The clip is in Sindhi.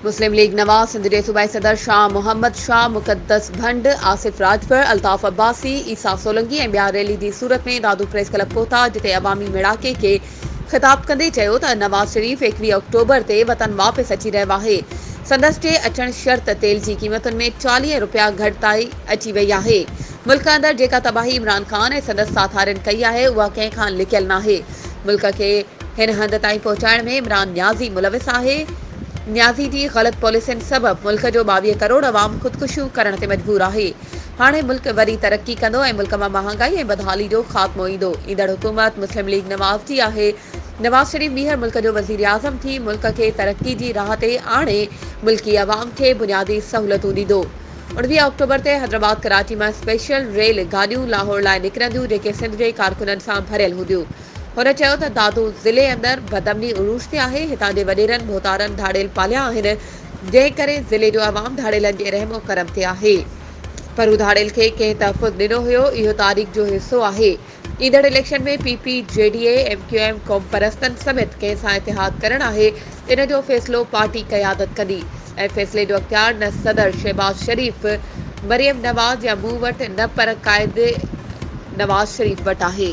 مسلم ليگ ن سنڌ جي صوبائي صدر شاهه محمد شاهه، مقدس ڀنڊ، آصف راڄپر، الطاف عباسي، عيسيٰ سولنگي ۽ ٻيا ريلي جي صورت ۾ دادو پريس ڪلب ڪوتا جتي عوامي ميڙاڪي کي خطاب ڪندي چيو ته نواز شريف ايڪويهه آڪٽوبر تي وطن واپس اچي رهيو آهي، سندس جي اچڻ شرط تيل جي قيمتن ۾ چاليهه رپيا گهٽتائي اچي وئي آهي، ملڪ اندر جيڪا تباهي عمران خان ۽ سندس ساٿارين ڪئي آهي اها ڪنهن کان لڪيل ناهي، ملڪ کي هن هنڌ تائين پهچائڻ ۾ عمران نيازي ملوث آهي، نيازي جي غلط پاليسين سبب ملڪ جو ٻاويهه ڪروڙ عوام خودڪشيون ڪرڻ تي مجبور آهي. هاڻي ملڪ وري ترقي ڪندو ۽ ملڪ مان مهانگائي ۽ بدحالي جو خاتمو ايندو، ايندڙ حڪومت مسلم ليگ نواز جي آهي، نواز شريف ٻيهر ملڪ جو وزيراعظم ٿي ملڪ کي ترقي جي راهه تي آڻي ملڪي عوام کي بنيادي سهولتون ڏيندو. اوڻويهه آڪٽوبر تي حيدرآباد ڪراچي مان اسپيشل ريل گاڏيون لاهور لاء نڪرنديون جيڪي سنڌ جي ڪارڪنن سان ڀريل هونديون، هن چيو ته دادو ضلعي اندر بدامني عروج تي آهي، هتان جي وڏيرن ڀوتارن ڌاڙيل پاليا آهن، جنهن ڪري ضلعي جو عوام ڌاڙيلن جي رحم و ڪرم تي آهي، پر هو ڌاڙيل کي ڪنهن تحفظ ڏنو هيو، اهو تاريخ جو حصو آهي، ايندڙ election ۾ P P, G D A, M Q M قومپرستن سميت ڪنهن سان اتحاد ڪرڻ آهي، ان جو فيصلو پارٽي قيادت ڪندي ۽ فيصلي جو اختيار نه صدر شهباز شريف، مريم نواز يا مون وٽ نه پر قائد نواز شريف وٽ آهي.